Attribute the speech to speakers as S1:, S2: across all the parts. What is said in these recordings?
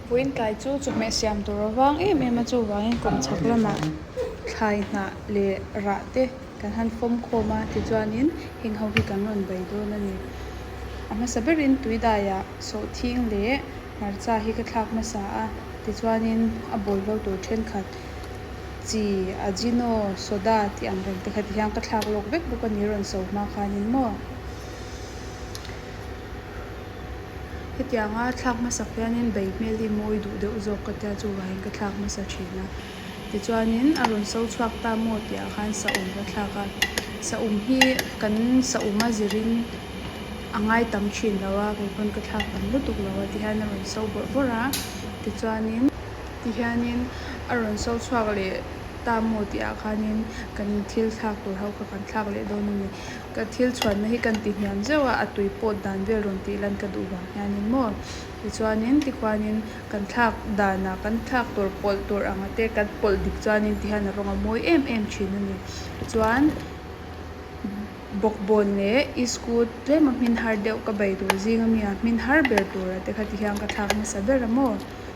S1: Puintlai chu chawhmeh siam tur a vang em em a, chuvangin kawmchhak lamah thlai hnah leh rah te kan han fawm khawm a tichuanin heng ho hi kan rawn bei dawn a ni. A hmasa berin Tuidaiah sawhthing leh hmarcha hi ka thlak hmasa a, tichuanin a bawl vo tur thenkhat chi ajino soda tih ang reng te kha ti hian ka thlak lawk vek bawk a ni rawn so hma khanin maw. Hetianga thlak hmasa khianin bei hmel hi mawi duh deuh zawk ka tia chuvangin ka thlak hmasa thin a. Tichuanin a rawn so chhuak ta maw tihah khan sahum ka thlak a. Sahum hi kan sahum a zirin a ngai tam thin lo a, kei pawn ka thlak tam lutuk lo a ti hian a rawn so vawrh vawrh a. Tichuanin ti hianin a rawn so chhuak leh ta maw tihah khanin kan thil thlak tur ho kha kan thlak leh dawn a ni. Ka thil chhuatna hi kan tihniam zeuh a, a tui pawt dan vel rawn tih lan ka duh vang hian in maw. Tichuanin, tikhuanin kan thlak danah kan thlak tur pawlh tur ang te kan pawlh dik chuanin ti hian a rawn ngamawi em em thin a ni. Chuan bawkbawn leh i school tlema hmin har deuh ka bei duh zing a mi a, hmin har ber tura te kha ti hian ka thlak nasa ber a maw.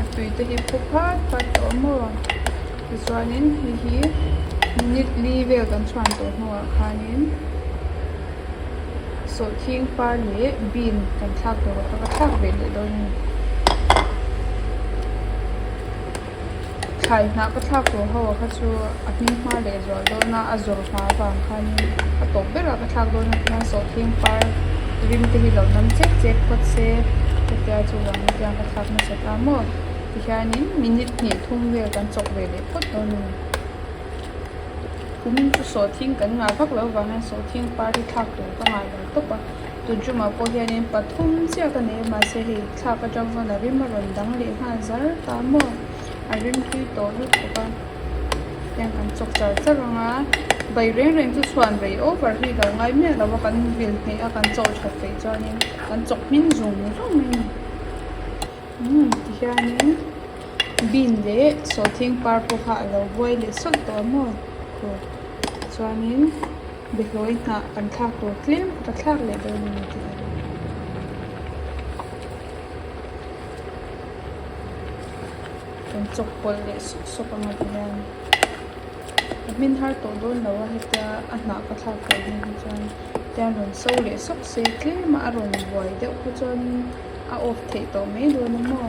S1: a tui te hi phu phat phat a awm aw tichuanin hei hi minute li vel kan chhuan tawh hnungah khanin sawhthing par leh bean kan thlak tawh ka thlak ve leh dawn a ni. thlai hnah ka thlak tawh ho kha chu a hming hma leh zual dawn a a zawrh hma avang khanin a tawp ber a ka thlak dawn a tihian sawhthing par rim te hi lo nam chek chek phawt se hetia chuan ka thlak nasa ta maw tihianin minute hnih thum vel kan chawk ve leh phawt dawn a ni kum chu sawhthing kan ngah vak lo vang hian sawhthing par hi thlak tur ka ngailo tawp a. Tucumah pawh hianin pathum chiah ka nei mahse hei thlak atang chuan a rim a rawn dang leh nghal zar ta maw a rim tui tawh lutuk bawk a heng kan chawk char char ang a bai reng reng chu chhuan rei over hi lo ngai miah lo a kan vil hmeh a kan chaw that feih chuanin kan chawk hming zum zung mai a ni umm tihianin bean leh sawhthing par pawh kha a lo buai leh sawlh tawh a maw khaw tichuanin. Biahlawi hnah kan thlak tur tlem a ka thlak leh dawn a ni tih a ni. Kan chawk pawlh leh suk suk ang a ti hian ka hmin har tawh dawn lo a hetia a hnah ka thlak tur hnu hi chuan hetian a rawn so leh sawk se tlem a a rawn buai deuh kha chuanin a off theih tawh mai dawn a maw.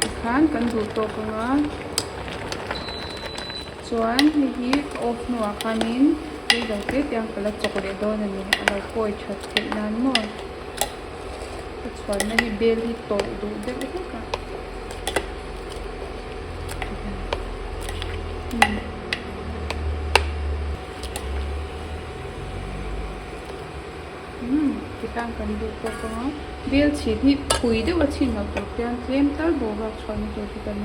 S1: tikhan kan duh tawk anga chuan hei hi a off hnu ah khanin hlui lo tete ang ka la chawk leh dawn a ni a lo pawi that theih nan maw ka chhuan na hi bel hi tawh duh deuh hlek a hmm Umm titan kan duh tawk ang a, bel chhin hi phui deuh a chhin loh tur pian tlem tal bo ruak chhuah na tur hi kan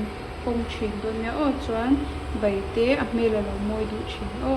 S1: kawng thin dawn nia aw chuan bai te a hmel a lo mawi duh thin aw.